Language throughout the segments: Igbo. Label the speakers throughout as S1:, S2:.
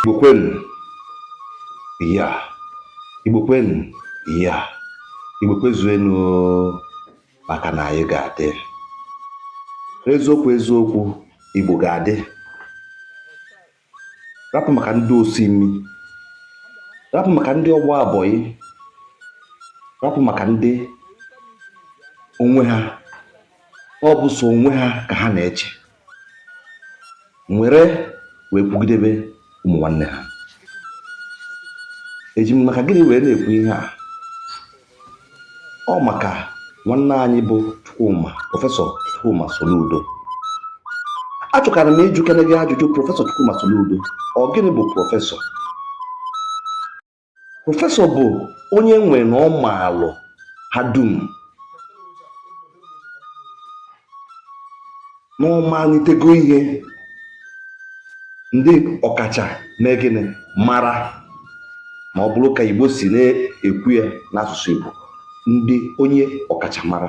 S1: Igbo kwenu ya Igbo kwenu ya Igbo kwezuenu maka na anyị ga-adị eziokwu eziokwu Igbo ga-adị rapụ maka ndị osi imi rapụ maka ndị ọgba bọyị rapụ maka ndị onwe ha ọ bụ so onwe ha ka ha na-eche nwere wee kwugidebe ụmụ nwanne ha eji m maka gịnị wee na-ekwu ihe a ọ maka nwanne anyị bụ Chukwuma prọfesọ Chukwuma Soludo achọkara m ịjụkene gị ajụjụ prọfesọ Chukwuma Soludo ọ gịnị bụ prọfesọ prọfesọ bụ onye nwe na ọ maalụ ha dum na ọ manitego ihe ndị ọkacha mee gịnị mara ma ọ bụrụ ka Igbo si na-ekwu ya n'asụsụ Igbo ndị onye ọkachamara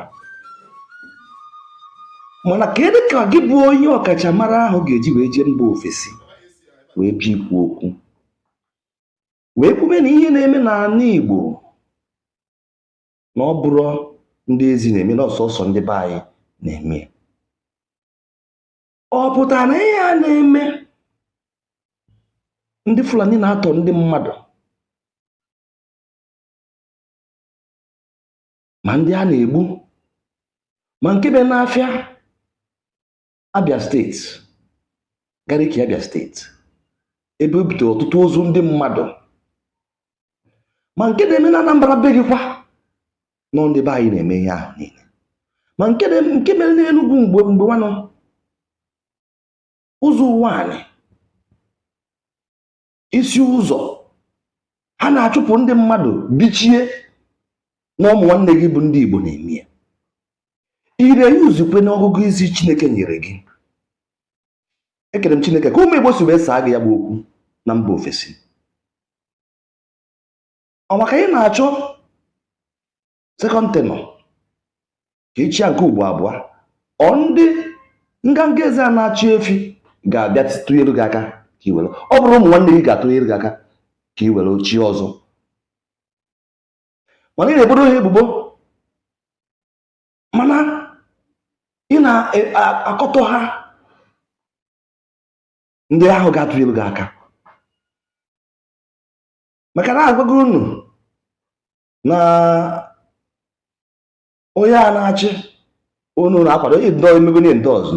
S1: mana kedu ka gị bụ onye ọkachamara ahụ ga-eji wee jee mba ofesi wee bịa ikwu okwu wee kwube na ihe na-eme n'ala Igbo na ọ bụrọ ndị ezi na-eme na ọ sọsọ ndị be anyị na-eme ọ pụtara na ihe a na-eme ndị Fulani na-atọ ndị mmadụ ma ndị a na-egbu ma nke be n'afịa Abia steeti Gariki Abia steeti ebe o butere ọtụtụ ozu ndị mmadụ ma nke na-eme na Anambra be gị kwa na ọ ndị be anyị na-eme ihe ahụ niile ma nke nke mere n'Enugwu mgbe mgbe nwanụ Ụzọ Ụwanị Isi Ụzọ ha na-achụpụ ndị mmadụ bichie na ụmụ nwanne gị bụ ndị Igbo na-eme ya ire ya uzikwe n'ọgụgụ isi Chineke nyere gị ekere m Chineke ka ụmụ Igbo si wee saa gị ya bụ okwu na mba ofesi ọ maka ị na-achọ sekọnd tenọ ka ị chịa nke ugbo abụọ ọ ndị nganga ezi a na-achị efi ga-abịa tụnyere gị aka ka i were ọ bụrọ ụmụ nwanne gị ga-atụnyere gị aka ka i were oche ọzọ mana ị na-ebodo ha ebubo mana ị na-akọtọ ha ndị ahụ ga-atụnyere gị aka maka na agwago unu na onye a na-achị unu na-akwado ihe ndọ emebe ihe ndị ọzọ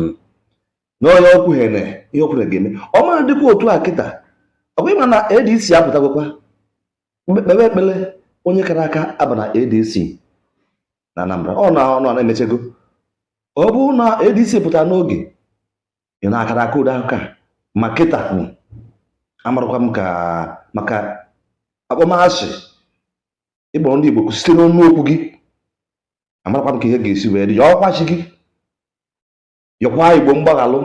S1: na onye okwuhere ihe okwuhere ga-eme ọ ma adịkwa otu a kịta ọ kwa ị ma na adc apụtagokwa kpebe ekpele onye kara aka aba na adc na anambra ọ na ọnụ na-emechego ọ bụrụ na adc pụtara n'oge ị na-akara aka ụda ka ma kịta amarakwa m ka maka akpọmasị ị kpọrọ ndị Igbo site n'ọnụ okwu gị amarakwa m ka ihe ga-esi wee dị yọkwa chi gị yọkwa Igbo mgbaghalụ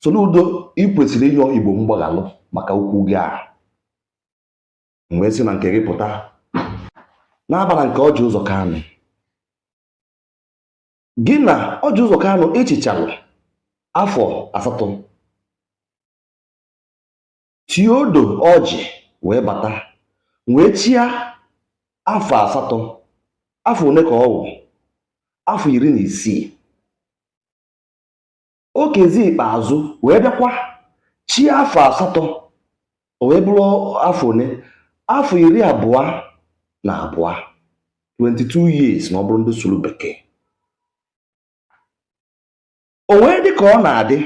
S1: Soludo ị kwesịrị ịyọ Igbo mgbaghalụ maka okwu gị a wee si na nke gị pụta na-abara nke ọjị ụzọ kanụ gị na ọjị ụzọ kanụ ị chịchara afọ asatọ theodore ọjị wee bata wee chịa afọ asatọ afọ one ka ọ wụ afọ iri na isii okezie ikpeazụ wee bịakwa chịa afọ asatọ o wee bụrụ afọ one afọ iri abụọ na abụọ 22 years ma ọ bụrụ ndị sụrụ bekee o wee dị ka ọ na-adị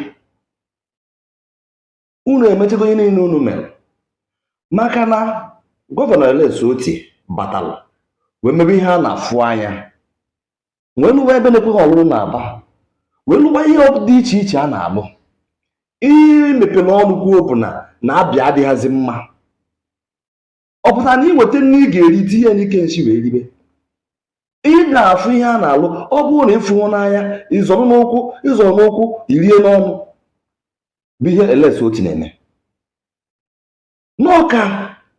S1: unu emechego ihe niile unu mere maka na gọvanọ Alex Oti batara wee mebe ihe a na-afụ anya wee lụwa ebe na-ekweghị ọlụlụ n'Aba wee lụwa ihe dị iche iche a na-alụ ihe i mepere ọnụ kwuo bụ na na abịa adịghịzi mma ọ pụtara na ị nweta nne ị ga-eri tinye n'ike nsi wee ribe ị na-afụ ihe a na-alụ ọ bụrụ na ị fụhụ n'anya ị zọrọ n'ụkwụ ị zọrọ n'ụkwụ i rie n'ọnụ bụ ihe Alex Oti na-eme na ọ ka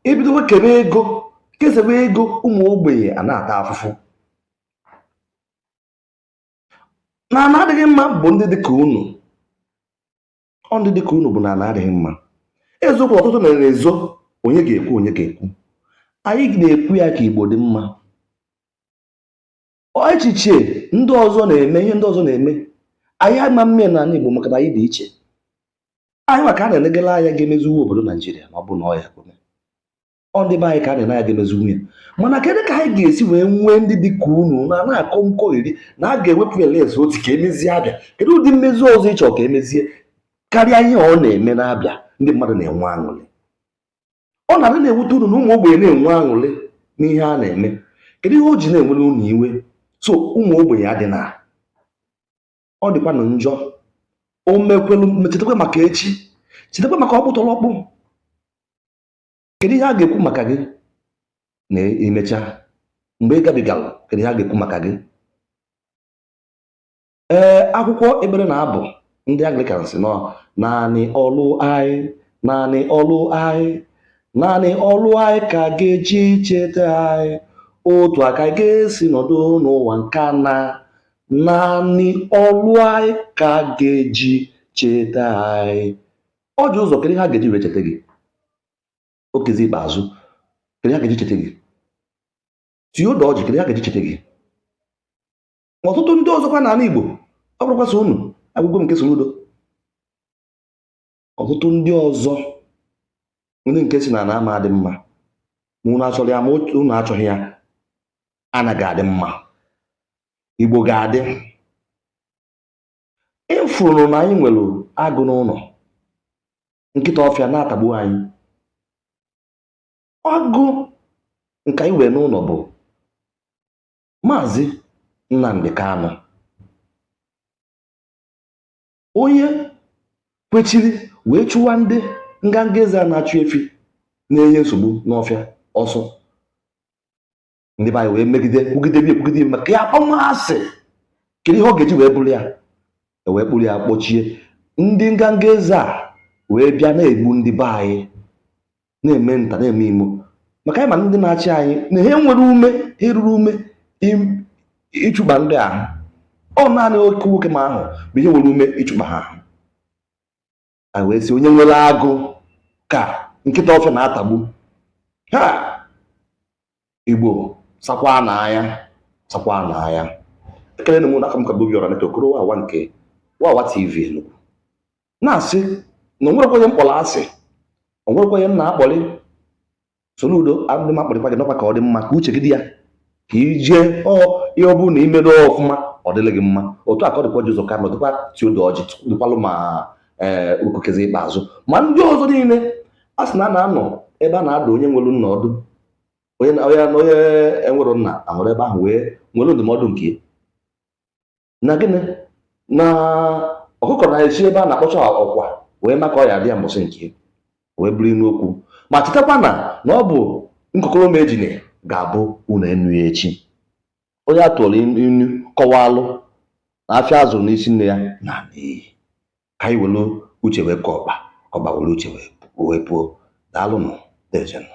S1: ebidowe kebe ego kesebe ego ụmụ ogbenye a na-ata afụfụ na ana adịghị mma bụ ndị dị ka unu ọ ndị dịka unu bụ na ana adịghị mma eziokwu ọtụtụ na na-ezo onye ga-ekwu onye ga-ekwu anyị na-ekwu ya ka igbo dị mma echiche ndị ọzọ na-eme ihe ndị ọzọ na-eme anyị ama mme na ana igbo maka na anyị dị iche anyị nwa ka a na-elegala anya ga-emeziwe obodo naijiria ma ọ bụ na ọ ya-ekwe mee ọ ndị be anyị ka a na-ene anya ga-emeziwe ya mana kedu ka anyị ga-esi wee nwee ndị dị ka unu na na-akọ nkọgheri na a ga-ewepụ Alex Oti ka e mezie abịa kedu ụdị mmezi ọzọ ị chọ ka e mezie karịa ihe ọ na-eme n'abịa ndị mmadụ na-enwe aṅụrị ọ na-adị na-ewute unu na ụmụ ogbenye na-enwe aṅụrị n'ihe a na-eme kedu ihe o ji na-ewere unu iwe so ụmụ ogbenye adịna ọ dịkwanụ njọ o mekwelu chetakwa maka echi chetakwa maka ọkpụtọrọkpụ kedu ihe a ga-ekwu maka gị na e mecha mgbe ị gabigara kedu ihe a ga-ekwu maka gị ee akwụkwọ ekpere na abụ ndị Anglican sị na ọ naanị ọlụ anyị naanị ọlụ anyị naanị ọlụ anyị ka a ga-eji cheta anyị otu a ka a ga-esi nọdụ n'ụwa nke a naa naanị ọlụ anyị ka a ga-eji cheta anyị Ọjị Ụzọ kedu ihe a ga-eji wee cheta gị Okezie Ikpeazụ kedu ihe a ga-eji cheta gị Theodore Ọjị kedu ihe a ga-eji cheta gị ọtụtụ ndị ọzọkwa n'ana Igbo ọ bụrọkwa sọ unu ekwugo m nke Soludo ọtụtụ ndị ọzọ ndị nke sị na ana ama adị mma ma unu achọrọ ya ma unu achọghị ya ana ga-adị mma Igbo ga-adị ịfụrụ na anyị nwere agụ n'ụlọ nkịta ọfịa na-atagbu anyị agụ nke anyị nwere n'ụlọ bụ maazị Nnamdi Kanu onye kwechiri wee chụwa ndị nganga eze a na-achụ efi na-enye nsogbu n'ọfịa ọsọ ndị be anyị wee megide kwugide bi ekwugide ibe maka ya akpọmasị kedu ihe ọ ga-eji wee bụrụ ya e wee kpụrụ ya kpọchie ndị nganga eze a wee bịa na-egbu ndị be anyị na-eme nta na-eme imo maka anyị ma ndị na-achị anyị na ha enwero ume ha eruro ume im- ịchụba ndị ahụ ọ naanị oke nwoke m ahụ bụ ihe nwere ume ịchụba ha ahụ anyị wee sị onye nwere agụ ka nkịta ọfịa na-atagbu ha Igbo sakwanụ anya sakwanụ anya ekelee m unu aka m ka bụ Obiọra Neto okoro wawa nke wawa tv enugu na-asị na o nwerokwa onye m kpọrọ asị o nwerokwa onye m na-akpọrị Soludo adịghị m akpọrịkwa gị na ọkwa ka ọ dị mma ka uche gị dị ya ka i jee ọ ihe ọ bụrụ na i medoo ọfụma ọ dịrị gị mma otu a ka ọ dịkwa Ọjị Ụzọ Kanụ dịkwa Theodore Ọjị dịkwalụ ma ee Okezie Ikpeazụ ma ndị ọzọ niile a sị na a na-anọ ebe a na-adụ onye nwere nna ọdụ onye na- onye na- onye enwero nna anọrọ ebe ahụ wee nwere ndụmọdụ nke ya. na gịnị na ọkụkọ na-esi ebe a na-akpọcha ọkwa wee ma ka ọ ya-adị ya mbọsị nke wee bụrụ inu okwu ma chetakwa na na ọ bụ nkokoro m ejine ga-abụ unu enu ya echi onye a tụrụ inu kọwalụ na afịa a zụrụ n'isi nne ya naa n'iyi ka anyị were uche wee kọọ ọkpa ka ọkpa were uche wee puo daalụnụ dejenụ